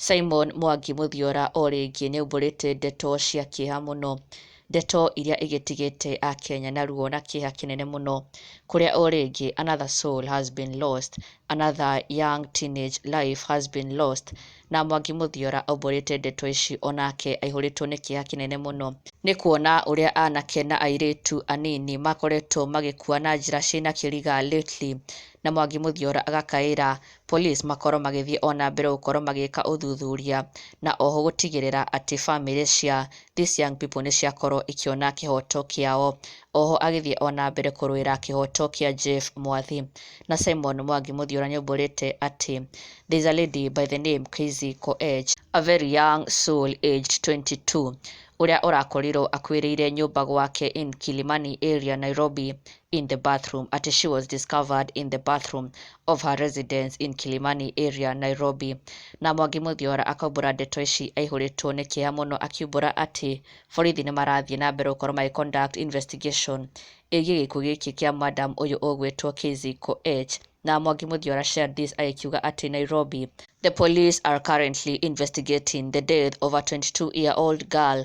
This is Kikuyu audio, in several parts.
Simon Mwangi Mũthiora o rĩngĩ nĩaumbũrĩte ndeto cia kĩeha mũno, ndeto iria igĩtigĩte Akenya na ruo na kĩeha kĩnene mũno, kũrĩa o rĩngĩ another soul has been lost, another young teenage life has been lost, na Mwangi Mũthiora aumbũrĩte ndeto ici onake aihũrĩtwo nĩ kĩeha kĩnene mũno, nĩ kuona ũrĩa anake na airĩtu anini makoretwo magĩkua na njĩra ciĩna kĩriga lately, na Mwangi Mũthiora agakaĩra police makorwo magĩthiĩ ona mbere gũkorwo magĩka ũthuthuria na oho gũtigĩrĩra atĩ family cia these young people nĩ ciakorwo ikĩona kĩhoto kĩao. Oho agĩthiĩ ona mbere kũrũĩra kĩhoto kĩa Jeff Mwathi. Na Simon Mwangi Mũthiora nĩ aumbũrĩte atĩ there is a lady by the name Kaizi Koech, a very young soul aged 22, ũrĩa ũrakorirwo akuĩrĩire nyũmba gwake in Kilimani area Nairobi in the bathroom, atĩ she was discovered in the bathroom of her residence in Kilimani area, Nairobi. Na Mwangi Mũthiora akaumbũra ndeto ici aihũrĩtwo nĩ kĩeha mũno akiumbũra atĩ borithi nĩ marathiĩ na mbere gũkorwo magĩ conduct investigation ĩgiĩ gĩkuũ gĩkĩ kĩa madam ũyũ ũgwĩtwo Kizzy Koech. Na Mwangi Mũthiora shared this agĩkiuga atĩ Nairobi The police are currently investigating the death of a 22-year-old girl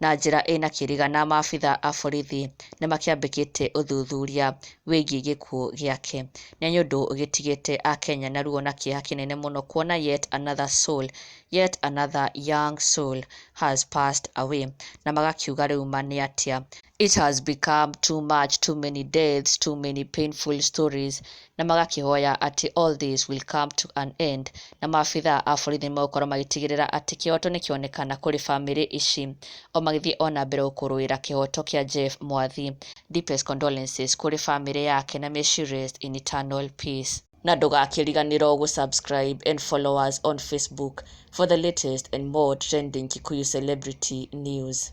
na njĩra ĩna kĩrĩga na maabitha a borithi nĩ makĩambĩkĩte ũthuthuria wĩgiĩ gĩkuũ gĩake. Nĩ nyũndũ gĩtigĩte Akenya na ruo na kĩeha kĩnene mũno kuona yet another soul, yet another young soul has passed away. Na magakiuga rĩu ma nĩ atĩa? It has become too much, too many deaths, too many painful stories na magakĩhoya atĩ all this will come to an end, na maabithaa a borithi magũkorwo magĩtigĩrĩra atĩ kĩhoto nĩ kĩonekana kũrĩ famĩlĩ ici. O magĩthiĩ o na mbere gũkũrũĩra kĩhoto kĩa Jeff Mwathi. Deepest condolences kũrĩ famĩlĩ yake na may she rest in eternal peace. Na ndũgakĩriganĩro gũ subscribe and follow us on Facebook for the latest and more trending Kikuyu celebrity news.